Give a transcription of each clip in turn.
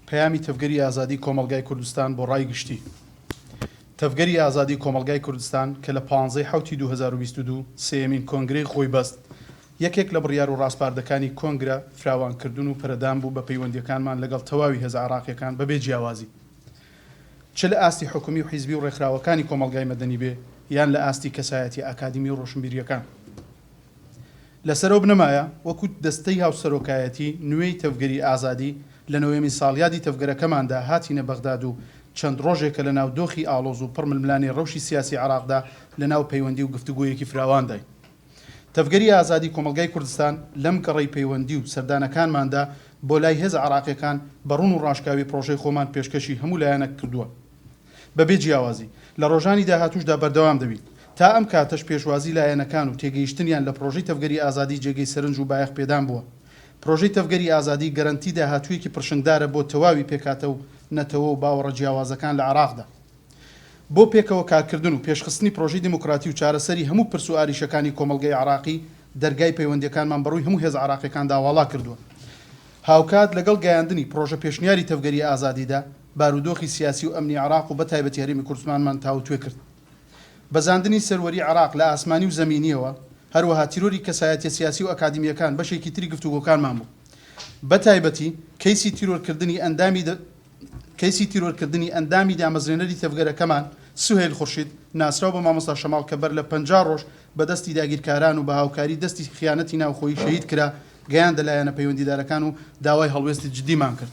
پەیامی تەڤگەری ئازادیی کۆمەڵگای کوردستان بۆ ڕای گشتی تەڤگەری ئازادیی کۆمەڵگای کوردستان کە لە پانزەی حەوتی دوو هەزار و بیست و دوو سێیەمین کۆنگرەی خۆی بەست، یەکێک لە بڕیار و ڕاسپاردەکانی کۆنگرە فراوانکردن و پەرەدان بوو بە پەیوەندییەکانمان لەگەڵ تەواوی هێزە عێراقییەکان بەبێ جیاوازی چ لە ئاستی حکومی و حیزبی و ڕێکخراوەکانی کۆمەڵگای مەدەنی بێ یان لە ئاستی کەسایەتیە ئاکادیمی و ڕۆشنبیرییەکان. لەسەر ئەو بنەمایە وەکو دەستەی هاوسەرۆکایەتی نوێی تەڤگەری ئازادی لە نۆیەمین ساڵیادی تەڤگەرەکەماندا هاتینە بەغداد و چەند ڕۆژێکە لە ناو دۆخی ئاڵۆز و پڕ ململانێی ڕەوشی سیاسی عێراقدا لە ناو پەیوەندی و گفتوگۆیەکی فراوانداین. تەڤگەری ئازادی کۆمەڵگای کوردستان لەم گەڕەی پەیوەندی و سەردانەکانماندا بۆ لای هێزە عێراقیەکان بە ڕوون و ڕاشکاوی پڕۆژەی خۆمان پێشکەشی هەموو لایەنەک کردووە بەبێ جیاوازی، لە ڕۆژانی داهاتووشدا بەردەوام دەبین. تا ئەم کاتەش پێشوازی لایەنەکان و تێگەیشتنیان لە پڕۆژەی تەڤگەری ئازادی جێگەی سەرنج و بایەخ پێدان بووە. پڕۆژەی تەڤگەری ئازادی گەرەنتی داهاتوویەکی پڕشنگدارە بۆ تەواوی پێکهاتە و نەتەوە و باوەڕە جیاوازەکان لە عێراقدا. بۆ پێکەوە کارکردن و پێشخستنی پڕۆژەی دیموکراتی و چارەسەری هەموو پرس و ئاریشەکانی کۆمەڵگەی عێراقی، دەرگای پەیوەندییەکانمان بە ڕووی هەموو هێزە عێراقییەکاندا واڵا کردووە. هاوکات لەگەڵ گەیاندنی پڕۆژە پێشنیاری تەڤگەری ئازادیدا، بارودۆخی سیاسی و ئەمنی عێراق و بەتایبەتی هەرێمی کوردستمانمان تاووتوێ کرد. بەزاندنی سەروەری عێراق لە ئاسمانی و زەمینییەوە، هەروەها تیرۆری کەسایەتیە سیاسی و ئەکادیمییەکان بەشێکی تری گفتوگۆکانمان بوو. بەتایبەتی کەیسی تیرۆرکردنی ئەندامی کەیسی تیرۆرکردنی ئەندامی دامەزرێنەری تەڤگەرەکەمان سوهەیل خورشید ناسراو بە مامۆستا شەماڵ کە بەر لە پەنجا ڕۆژ بە دەستی داگیرکاران و بە هاوکاری دەستی خیانەتی ناوخۆیی شەهید کرا، گەیاندە لایەنە پەیوەندیدارەکان و داوای هەڵوێستی جدیمان کرد.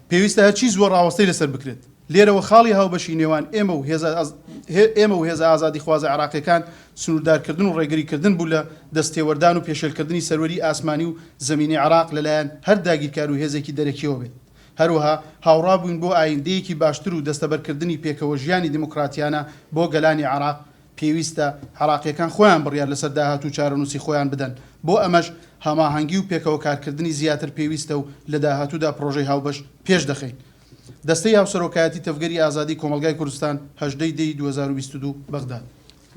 پێویستە هەرچی زووە ڕاوەستەی لەسەر بکرێت. لێرەوە خاڵی هاوبەشی نێوان ئێمە و هێزە ئێمە و هێزە ئازادیخوازە عێراقییەکان سنووردارکردن و ڕێگریکردن بوو لە دەستتێوەردان و پێشێلکردنی سەروەریی ئاسمانی و زەمینیی عێراق لەلایەن هەر داگیرکار و هێزێکی دەرەکییەوە بێت. هەروەها هاوڕا بووین بۆ ئاییندەیەکی باشتر و دەستەبەرکردنی پێکەوەژیانی دیموکراتییانە بۆ گەلانی عێراق، پێویستە عێراقییەکان خۆیان بڕیار لەسەر داهات و چارەنووسی خۆیان بدەن، بۆ ئەمەش هەماهەنگی و پێکەوە کارکردنی زیاتر پێویستە و لە داهاتوودا پڕۆژەی هاوبەش پێش دەخەین. دەستەی هاوسەرۆکایەتی تەڤگەری ئازادی کۆمەڵگای کوردستان، هەژدە ی دەی دوو هەزار و بیست و دوو، بەغداد.